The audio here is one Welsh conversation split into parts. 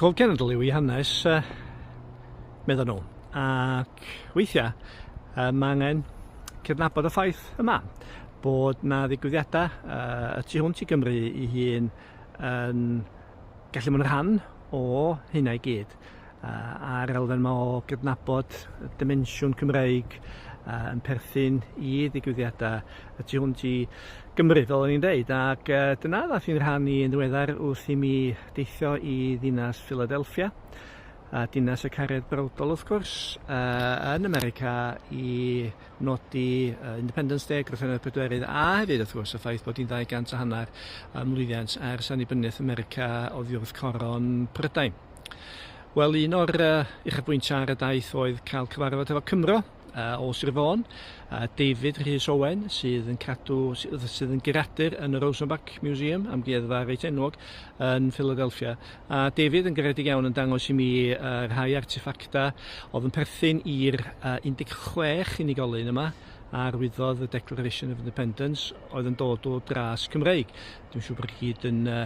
Cof cenedl yw ei hanes, uh, meddyn nhw, ac weithiau uh, mae angen cydnabod y ffaith yma bod na ddigwyddiadau uh, y tu hwnt i Gymru i hun yn gallu bod yn rhan o hynna i gyd. a'r elfen yma o gydnabod y dimensiwn Cymreig yn perthyn i ddigwyddiadau y tu hwnt i Gymru, fel o'n i'n deud. Ac dyna ddath i'n rhan i yn ddiweddar wrth i mi deithio i ddinas Philadelphia, a dinas y caredd brawdol wrth gwrs, yn America i nodi Independence Day, Grwthenau'r Pedwerydd, a hefyd wrth gwrs y ffaith bod hi'n 200 a hanner ymlwyddiant ers annibyniaeth America oddi wrth coron Prydain. Wel, un o'r uh, uchafbwyntiau ar y daith oedd cael cyfarfod efo Cymro uh, o Sir Fôn, uh, David Rhys Owen, sydd yn cadw, sydd yn geradur yn y Rosenbach Museum, amgueddfa reit enwog, yn Philadelphia. A David yn garedig iawn yn dangos i mi uh, rhai artefactau oedd yn perthyn i'r uh, 16 unigolyn yma, arwyddodd y Declaration of Independence oedd yn dod o dras Cymreig. Dwi'n siŵr bod chi gyd yn uh,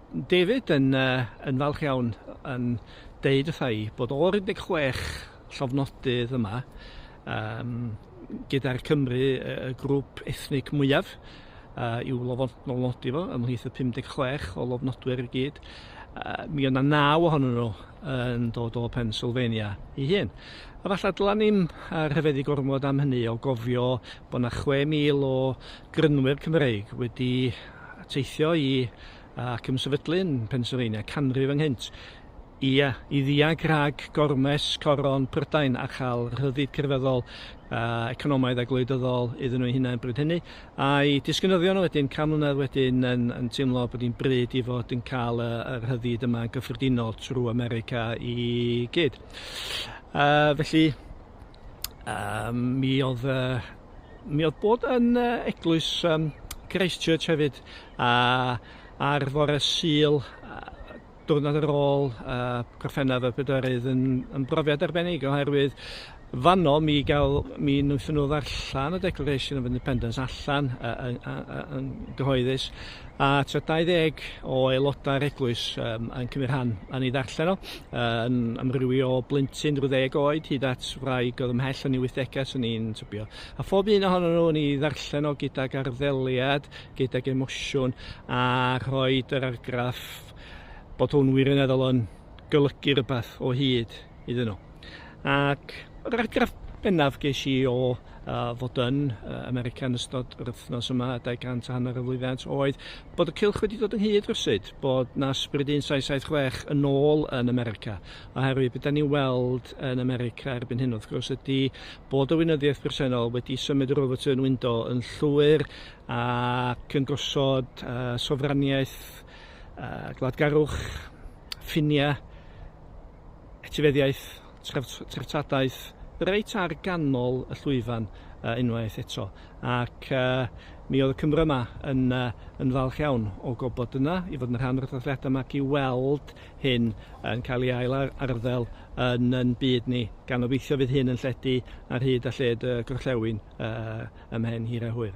David yn yn falch iawn yn deud wrtha'i bod o'r 16 llofnodydd yma yym gyda'r Cymry y grŵp ethnig mwyaf yy i'w lofnodi fo ymhlith y 56 o lofnodwyr i gyd yy mi o' 'na naw ohonyn nhw yn dod o Pennsylvania i hun. Efallai dyla ni'm rhyfeddu gormod am hynny o gofio bod 'na 6,000 o grynwyr Cymreig wedi a teithio i ac yn sefydlu'n Pennsylvania canrif ynghynt, ia, i ddiag rhag gormes coron Prydain a chael rhyddid crefyddol, economaidd a gwleidyddol iddyn nhw'u hunain bryd hynny, a'u disgynyddion wedyn can mlynedd wedyn yn yn teimlo bod hi'n bryd i fod yn cael y y rhyddid yma yn gyffredinol trwy America i gyd. Yy felly yy mi oedd y Mi oedd bod yn eglwys um, Christchurch hefyd, a ar fore syl, diwrnod ar ôl uh, Gorffennaf y Pedorydd yn, yn brofiad arbennig oherwydd fanno mi gael mi wnaethon nhw ddarllen y Declaration of Independence allan uh, uh, uh, uh, gyhoeddus A tra 20 o aelodau'r eglwys um, yn cymryd rhan yn ei ddarllen o, yn amrywio o blentyn rhyw ddeg oed hyd at wraig oedd ymhell yn ei wythdegau sy'n ni'n tybio. A phob un ohonyn nhw yn ei ddarllen o gydag arddeliad, gydag emosiwn, a rhoi yr argraff bod hwn wirioneddol yn golygu rhywbeth o hyd. iddyn nhw. Ac yr argraff bennaf ges i o uh, fod yn uh, America yn ystod yr wythnos yma, 200 a hanner y flwyddant, oedd bod y cylch wedi dod ynghyd rhywsyd, bod na sbryd 1776 yn ôl yn America. Oherwydd beth da ni'n weld yn America erbyn hyn wrth gwrs ydy bod y wynyddiaeth bresennol wedi symud yr overturn window yn llwyr ac yn gosod uh, sofraniaeth uh, gwladgarwch, ffiniau, etifeddiaeth, treftadaeth, reit ar ganol y llwyfan uh, unwaith eto. Ac uh, mi oedd y Cymro yma yn, uh, yn falch iawn o gobod yna, i fod yn rhan o'r dathliadau yma, i weld hyn yn cael ei ail arddel yn yn byd ni, gan obeithio fydd hyn yn lledu ar hyd a lled y gorllewin uh, ymhen hir a hwyr.